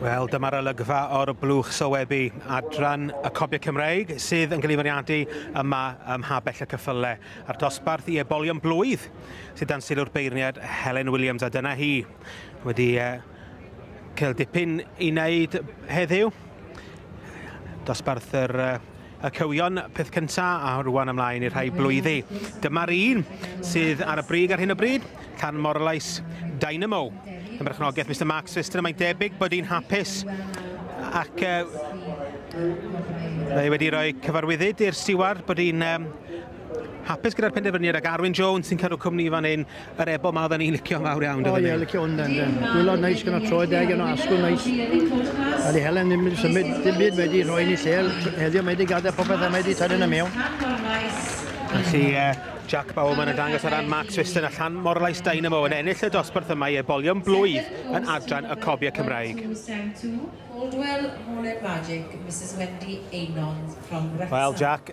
Wel, dyma'r olygfa o'r blwch sowebu, adran y copiau Cymreig sydd yn cael ei fwriadu yma ym Mhabell y Cyffyle, a'r dosbarth i ebolion blwydd sydd dan sylw'r beirniad Helen Williams, a dyna hi wedi cael dipyn i wneud heddiw. Dosbarth yr Y cywion, peth cynta, a rwan ymlaen i'r rhai blwyddi. Dyma'r un sydd ar y brig ar hyn o bryd, Can Morlais Dynamo. Yn berchnogaeth Mr Mark Sister, mae'n debyg bod hi'n hapus ac uh, wedi rhoi cyfarwyddyd i'r stiward bod hi'n um, hapus gyda'r penderfyniad ac Arwyn Jones sy'n cadw cwmni fan hyn Yr ebo ma oedden ni'n licio fawr iawn doedden ni? O ie, licio hwn yn de. Gwylod neis gyda troed deg yno, asgwrn neis. A di Helen ddim wedi symud, dim byd wedi rhoi ni lle. Heddiw mae wedi gadael popeth a mae wedi tynnu na mewn. Felly, uh, Jack Bowman yn dangos ar ran Mark Swiston a Llan Morlais Dynamo yn ennill y dosbarth yma i ebolion blwydd yn adran y cobiau Cymraeg. Wel, Jack,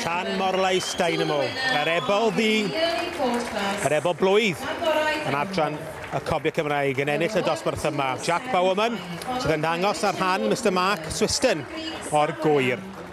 Llan Morlais Dynamo. Yr efo ddi, yr efo blwydd yn adran y Cobiau Cymraeg yn ennill y dosbarth yma. Jack Bowerman sydd yn dangos ar rhan Mr Mark Swiston o'r gwyr.